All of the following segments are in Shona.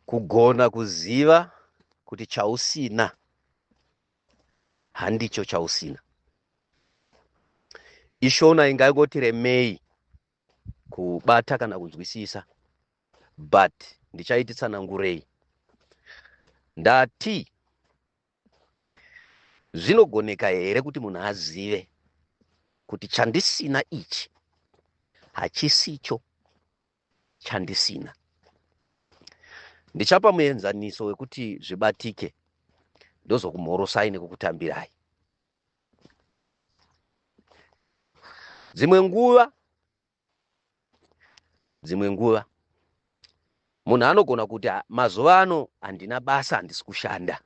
kugona kuziva kuti chausina handicho chausina ishona ingangoti remei kubata kana kunzwisisa but ndichaiti tsanangurei ndati zvinogoneka here kuti munhu azive kuti chandisina ichi hachisicho chandisina. Ndichapa muenzaniso wekuti zvibatike ndozokumhorosai nekukutambirai. Dzimwe nguva dzimwe nguva munhu anogona kuti mazuva ano handina basa handisi kushanda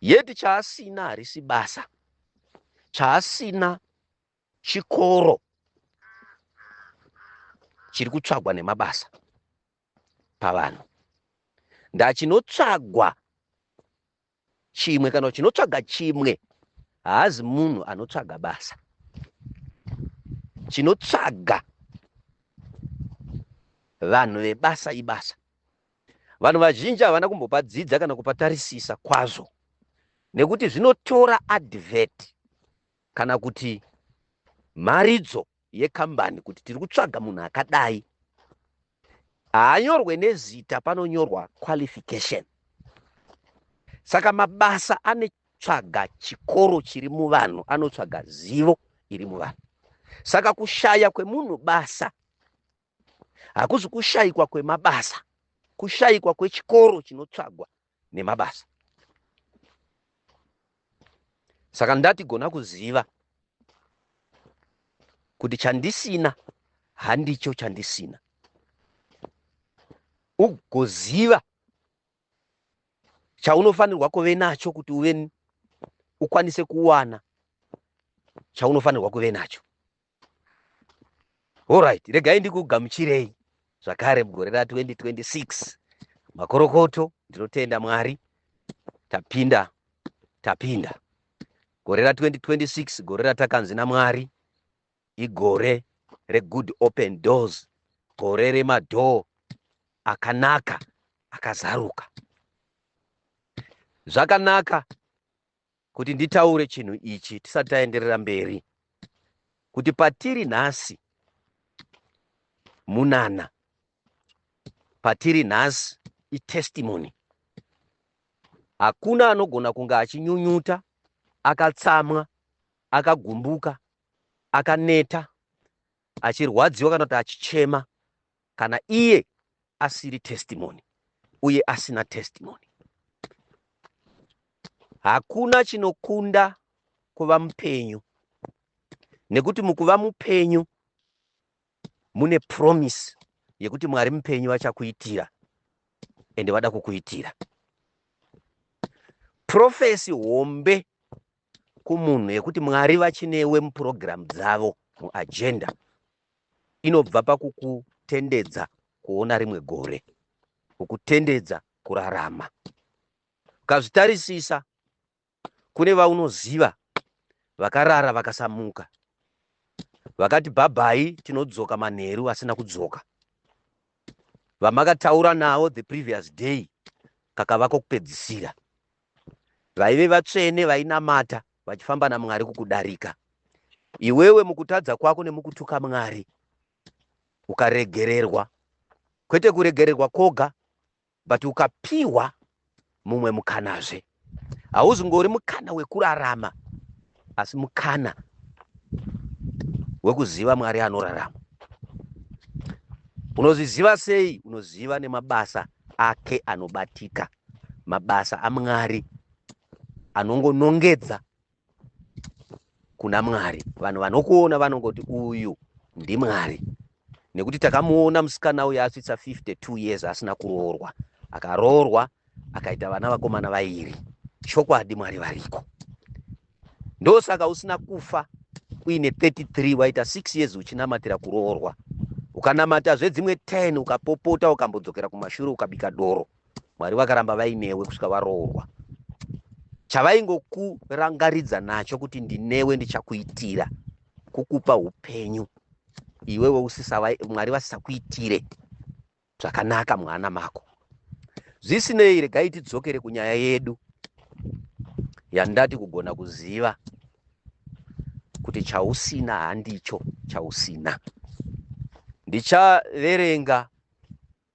yeti chaasina harisi basa chaasina chikoro chiri kutsvagwa nemabasa pavanhu ndachinotsvagwa chimwe kana chinotsvaga chimwe haazi munhu anotsvaga basa chinotsvaga vanhu vebasa ibasa vanhu vazhinji havana kumbopa dzidza kana kupatarisisa kwazvo nekuti zvinotora advert kana kuti mharidzo yekambani kuti tiri kutsvaga munhu akadai haanyorwe nezita panonyorwa qualification saka mabasa anotsvaga chikoro chiri muvanhu anotsvaga zivo iri muvanhu saka kushaya kwemunhu basa hakuzi kushaikwa kwemabasa kushaikwa kwechikoro chinotsvagwa nemabasa saka ndati gona kuziva kuti chandisina handicho chandisina ugoziva chaunofanirwa kuve nacho kuti uve ukwanise kuwana chaunofanirwa kuve nacho Alright, regai ndikugamuchirei zvakare mugore ra 2026 makorokoto ndinotenda mwari tapinda tapinda gore ra 2026 gore ratakanzi namwari igore regood open doors gore remadhoo akanaka akazaruka zvakanaka kuti nditaure chinhu ichi tisati taenderera mberi kuti patiri nhasi munana patiri nhasi itestimony hakuna anogona kunge achinyunyuta akatsamwa akagumbuka akaneta achirwadziwa kana kuti achichema kana iye asiri testimony uye asina testimony hakuna chinokunda kuva mupenyu nekuti mukuva mupenyu mune promise yekuti mwari mupenyu vachakuitira ende vada kukuitira profesi hombe kumunhu yekuti mwari vachinewe mupurogiramu dzavo muagenda inobva pakukutendedza kuona rimwe gore kukutendedza kurarama ukazvitarisisa kune vaunoziva vakarara vakasamuka vakati bhabhai tinodzoka manheru asina kudzoka vamakataura navo the previous day kakavako kupedzisira vaive vatsvene vainamata vachifamba naMwari kukudarika iwewe mukutadza kwako nemukutuka Mwari ukaregererwa kwete kuregererwa koga but ukapiwa mumwe mukanazve hauzi ngori mukana wekurarama asi mukana wekuziva Mwari anorarama unozviziva sei unoziva nemabasa ake anobatika mabasa amwari anongonongedza kuna mwari vanhu vanokuona vanongoti uyu ndimwari nekuti takamuona musikana uyu asvitsa 52 years asina kuroorwa akaroorwa akaita vana vakomana vairi chokwadi mwari variko ndosaka usina kufa uine 33 waita 6 years uchinamatira kuroorwa ukanamata zvedzimwe 10 ukapopota ukambodzokera kumashure ukabika doro mwari vakaramba vainewe kusvika varoorwa chavaingokurangaridza nacho kuti ndinewe ndichakuitira kukupa upenyu iwewe usisava mwari vasisakuitire zvakanaka mwana mako zvisinei regai tidzokere kunyaya yedu yandati kugona kuziva kuti chausina handicho chausina ndichaverenga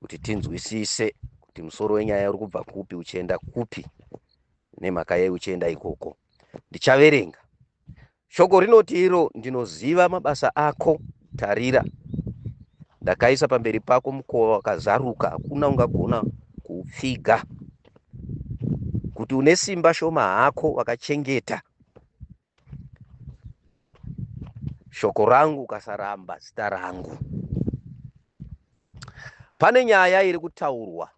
kuti tinzwisise kuti musoro wenyaya uri kubva kupi uchienda kupi nemhaka yei uchienda ikoko ndichaverenga shoko rinoti iro ndinoziva mabasa ako tarira ndakaisa pamberi pako mukova wakazaruka hakuna ungagona kuupfiga kuti une simba shoma hako wakachengeta shoko rangu ukasaramba zita rangu pane nyaya iri kutaurwa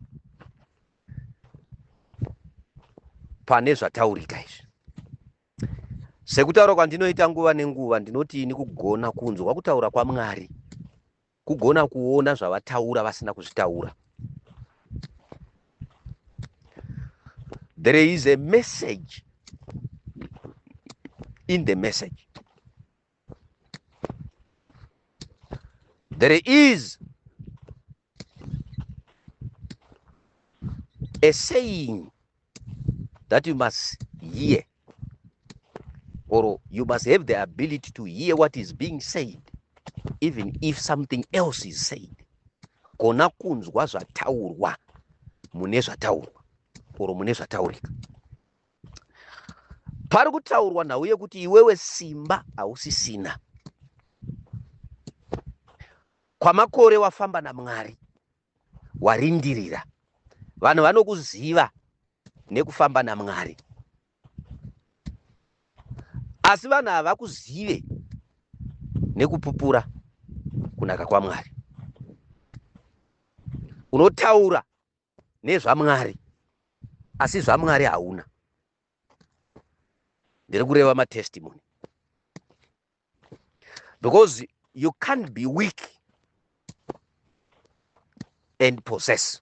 pane zvataurika izvi sekutaura kwandinoita nguva nenguva ndinoti ini kugona kunzwa kutaura kwamwari kugona kuona zvavataura vasina kuzvitaura there is a message in the message there is a saying that you must hear or you must have the ability to hear what is being said even if something else is said kona kunzwa zvataurwa mune zvataurwa or mune zvataurika pari kutaurwa nhau yekuti iwewe simba hausisina kwamakore wafamba namwari warindirira vanhu vanokuziva nekufamba namwari asi vanhu havakuzive nekupupura kunaka kwamwari unotaura nezvamwari asi zvamwari hauna ndiri kureva matestimony because you can't be weak and possess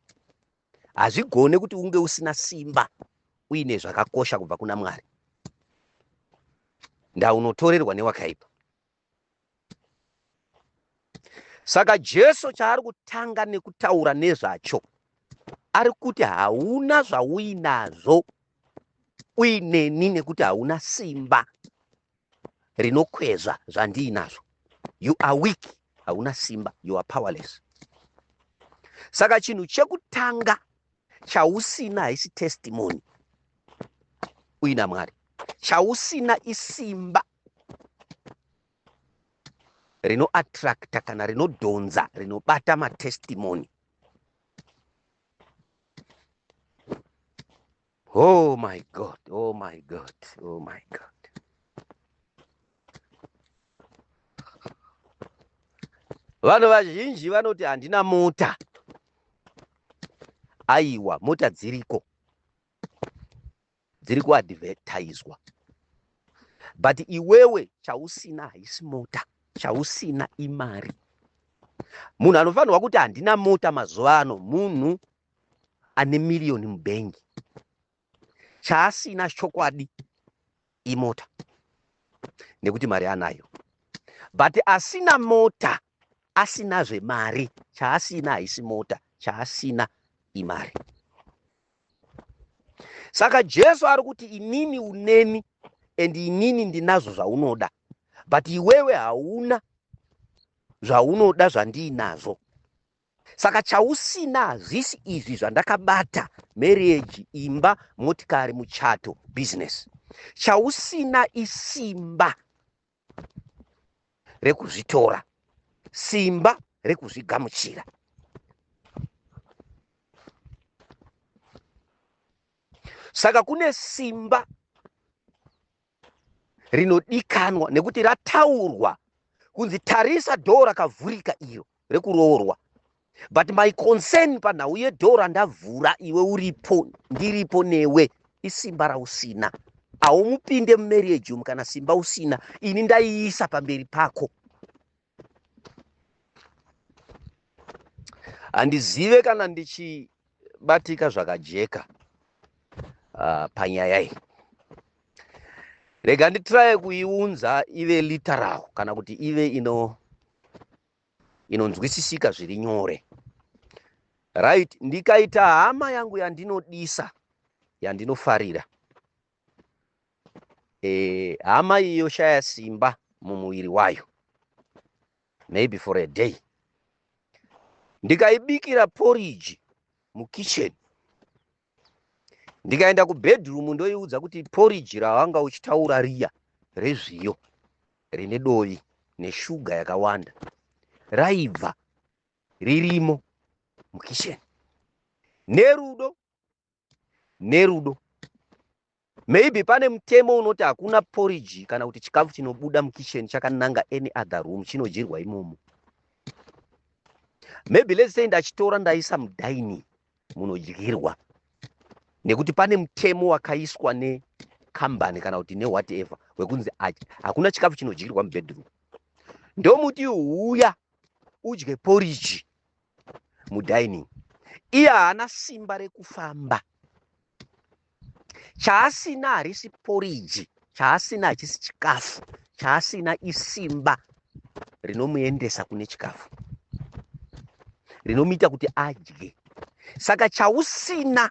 hazvigone kuti unge usina simba uine zvakakosha kubva kuna mwari ndaunotorerwa newakaipa saka jesu chaari kutanga nekutaura nezvacho ari kuti hauna zvauinazvo uineni nekuti hauna simba rinokwezva zvandiinazvo you are weak hauna simba you are powerless saka chinhu chekutanga chausina haisi testimony uina mwari chausina isimba rinoattracta kana rinodhonza rinobata matestimony Oh my God, oh my God, oh my God. Vanhu vazhinji vanoti handina mota. Aiwa, mota dziriko. Dziri kuadvertiswa. But iwewe chausina haisi mota, chausina imari. Munhu anofanirwa kuti handina mota mazuva ano, munhu ane miriyoni mubhengi chaasina chokwadi imota nekuti mari anayo but asina mota asina zvemari chaasina haisi mota chaasina imari saka jesu ari kuti inini uneni and inini ndinazvo zvaunoda but iwewe hauna zvaunoda zvandiinazvo saka chausina hazvisi izvi zvandakabata marriage imba motikari muchato business chausina isimba rekuzvitora simba rekuzvigamuchira saka kune simba rinodikanwa nekuti rataurwa kunzi tarisa dhoo rakavhurika iro rekuroorwa but my concern panhau yedhoo randavhura iwe uripo ndiripo newe isimba rausina haumupinde mumarriage umu kana simba usina ini ndaiisa pamberi pako handizive kana ndichibatika zvakajeka uh, panyaya iyi rega nditiraye kuiunza ive literal kana kuti ive ino inonzwisisika zviri nyore right ndikaita hama yangu yandinodisa yandinofarira eh, hama iyi yoshaya simba mumuviri wayo maybe for a day ndikaibikira poriji mukitchen ndikaenda kubedroom ndoiudza kuti poriji rawanga uchitaura riya rezviyo rine dovi neshuga yakawanda raibva ririmo mukitchen nerudo nerudo maybe pane mutemo unoti hakuna poriji kana kuti chikafu chinobuda mukitchen chakananga any other room chinodyirwa imomo maybe let's say ndachitora ndaisa mudaini munodyirwa nekuti pane mutemo wakaiswa nekambani kana kuti newhatever wekunzi hakuna chikafu chinodyirwa mubedroom ndomuti huya udye poriji mudining iye haana simba rekufamba chaasina harisi poriji chaasina hachisi chikafu chaasina isimba rinomuendesa kune chikafu rinomuita kuti adye saka chausina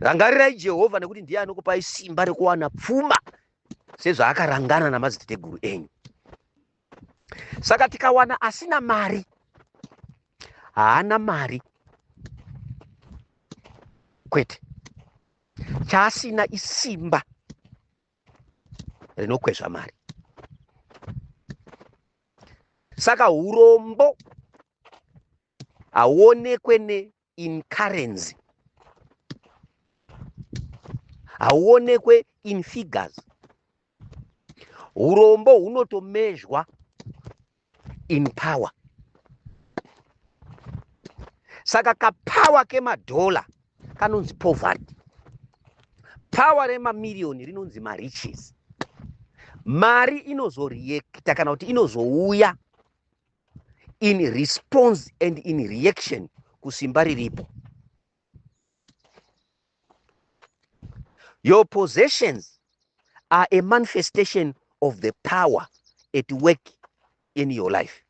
rangarirai jehovha nekuti ndiye anokupai simba rekuwana pfuma sezvaakarangana namadziteteguru enyu saka tikawana asina mari haana mari kwete chaasina isimba rinokwezva mari saka urombo hauonekwe in currency hauonekwe in figures urombo hunotomezhwa in power saka kapower kemadhola kanonzi poverty power remamiriyoni rinonzi mariches mari inozoreacta kana kuti inozouya in response and in reaction kusimba riripo your possessions are a manifestation of the power at work in your life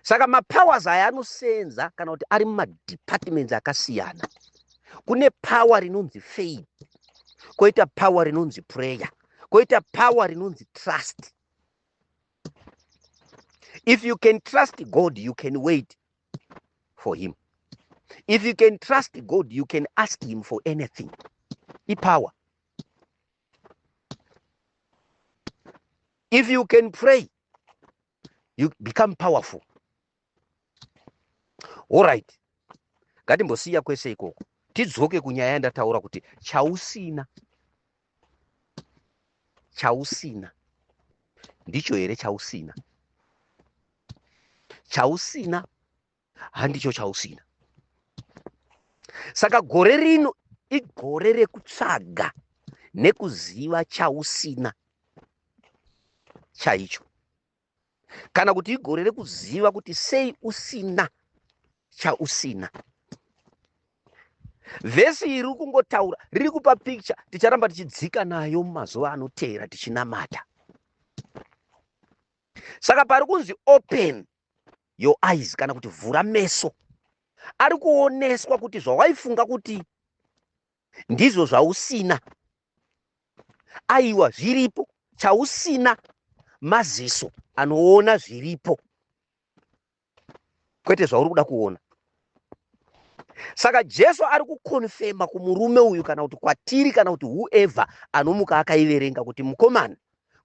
saka mapowers aya anosenza kana kuti ari mumadepartments akasiyana kune power rinonzi faith koita power rinonzi prayer koita power rinonzi trust if you can trust god you can wait for him if you can trust god you can ask him for anything ipower if you can pray you become powerful orit ngatimbosiya kwese ikoko tidzoke kunyaya yandataura kuti chausina chausina ndicho here chausina chausina handicho chausina saka gore rino igore rekutsvaga nekuziva chausina chaicho kana kuti igore rekuziva kuti sei usina chausina vhesi iri riri kungotaura riri kupa pikicha ticharamba tichidzika nayo mumazuva anoteera tichinamata saka pari kunzi open your eyes kana kuti vhura meso ari kuoneswa kuti zvawaifunga kuti ndizvo zvausina aiwa zviripo chausina maziso anoona zviripo kwete zvauri kuda kuona saka jesu ari kukonfema kumurume uyu kana kuti kwatiri kana kuti whoever anomuka akaiverenga kuti mukomana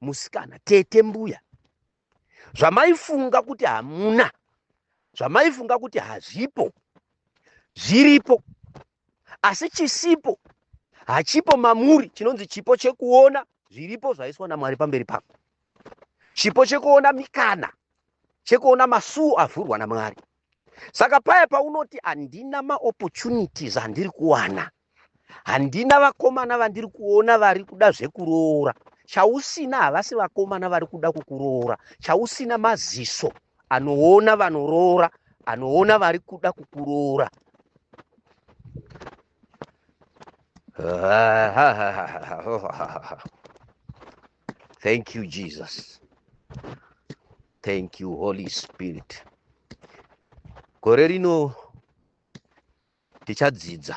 musikana tete mbuya zvamaifunga kuti hamuna zvamaifunga kuti hazvipo zviripo asi chisipo hachipo mamuri chinonzi chipo chekuona zviripo zvaiswa namwari pamberi pako chipo chekuona mikana chekuona masuo avhurwa namwari saka paya paunoti handina maopportunities andiri kuwana handina vakomana vandiri kuona vari kuda zvekuroora chausina havasi vakomana vari kuda kukuroora chausina maziso anoona vanoroora anoona vari kuda kukuroora thank you jesus thank you holy spirit gore rino tichadzidza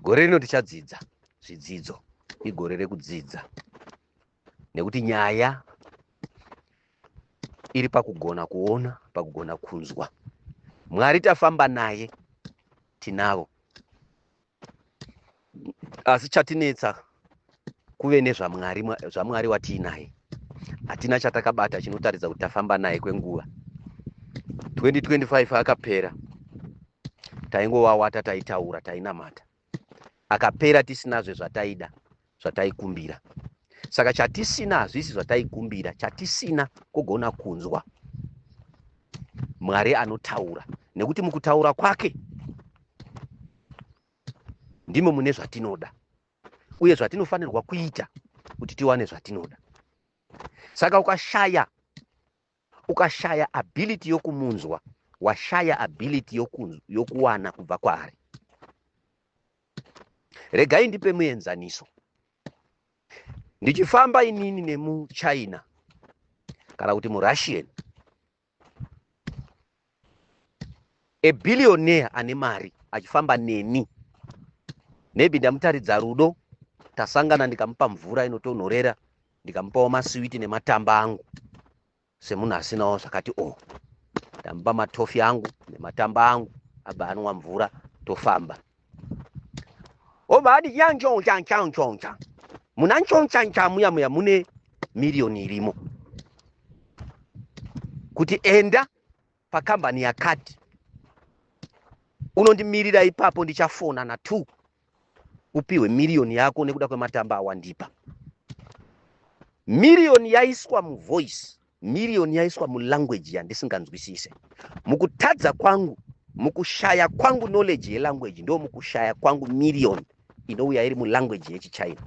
gore rino tichadzidza zvidzidzo igore rekudzidza nekuti nyaya iri pakugona kuona pakugona kunzwa mwari tafamba naye tinavo asi chatinetsa kuve nezvamwari zvamwari watiinaye hatina chatakabata chinotaridza kuti tafamba naye kwenguva 2025 akapera taingowawata taitaura tainamata akapera tisinazve zvataida zvataikumbira saka chatisina hazvisi zvataikumbira chatisina kugona kunzwa mwari anotaura nekuti mukutaura kwake ndimo mune zvatinoda uye zvatinofanirwa kuita kuti tiwane zvatinoda saka ukashaya ukashaya ability yokumunzwa washaya ability yokuwana yoku kubva kwaari regai ndipe muenzaniso ndichifamba inini nemuchina kana kuti murushian a billionaire ane mari achifamba neni maybe ndamutaridza rudo tasangana ndikamupa mvura inotonhorera ndikamupawo masiwiti nematamba angu semunhu asinawo zvakati o oh. ndamupa matofi angu nematamba angu abva anwa mvura tofamba obva ati chanchonchanchanchoncha muna nchonchanchaa muya muya mune miriyoni irimo kuti enda pakambani yakati unondimirira ipapo ndichafona na two upihwe miriyoni yako nekuda kwematamba awandipa miriyoni yaiswa muvoice miriyoni yaiswa mulanguage yandisinganzwisise mukutadza kwangu mukushaya kwangu knowledge yelanguage ndo mukushaya kwangu miriyoni inouya iri mulanguage yechichina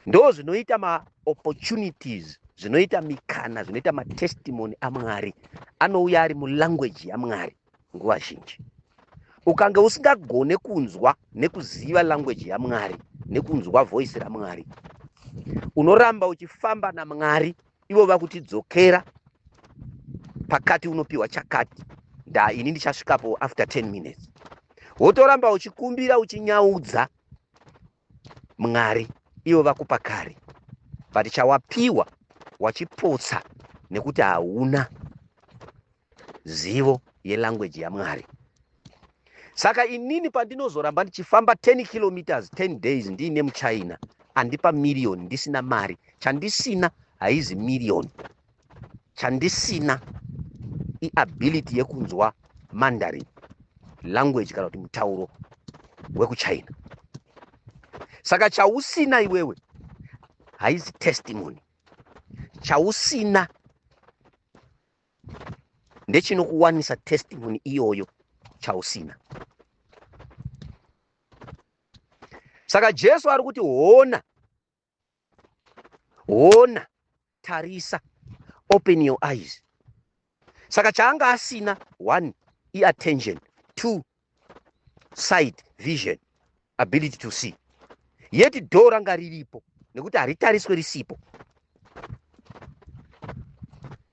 ndozvinoita maopportunities zvinoita mikana zvinoita matestimony amwari anouya ari mulanguage yamwari nguva zhinji ukange usingagone kunzwa nekuziva language yamwari nekunzwa voice ramwari unoramba uchifamba namwari ivo vakutidzokera pakati unopiwa chakati nda ini ndichasvikapo after 10 minutes wotoramba uchikumbira uchinyaudza mwari ivo vakupa kare but chawapiwa wachipotsa nekuti hauna zivo yelanguage yamwari saka inini pandinozoramba ndichifamba 10 kilometers 10 days ndiine muchina andipa miriyoni ndisina mari chandisina haizi miriyoni chandisina iability yekunzwa mandarin language kana kuti mutauro wekuchina saka chausina iwewe haizi testimony chausina ndechinokuwanisa testimony iyoyo chausina saka jesu ari kuti hona hona tarisa open your eyes saka chaanga asina one iattention two side vision ability to see yeti dho ranga riripo nekuti haritariswe risipo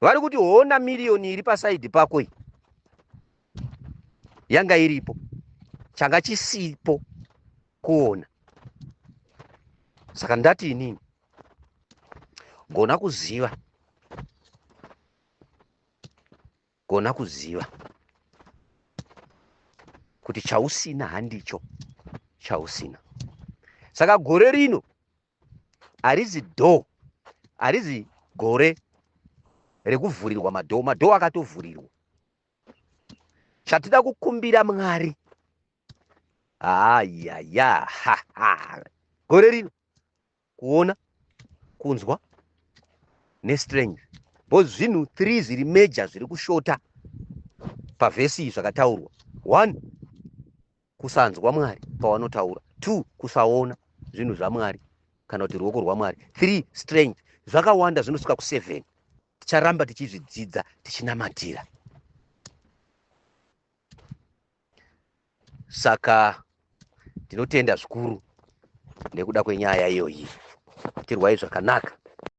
vari kuti hona miriyoni iri pasaidhi pako iyi yanga iripo changa chisipo kuona saka ndati inini gona kuziva gona kuziva kuti chausina handicho chausina saka gore rino harizi dhoo harizi gore rekuvhurirwa madhoo madhoo akatovhurirwa chatida kukumbira mwari ayaya gore rino kuona kunzwa nestrange bcause zvinhu three zviri major zviri kushota pavhesi iyi zvakataurwa one kusanzwa mwari pawanotaura two kusaona zvinhu zvamwari kana kuti ruoko rwamwari three strange zvakawanda zvinosvika kuseven ticharamba tichizvidzidza tichinamatira saka ndinotenda zvikuru nekuda kwenyaya iyoyi tirwai zvakanaka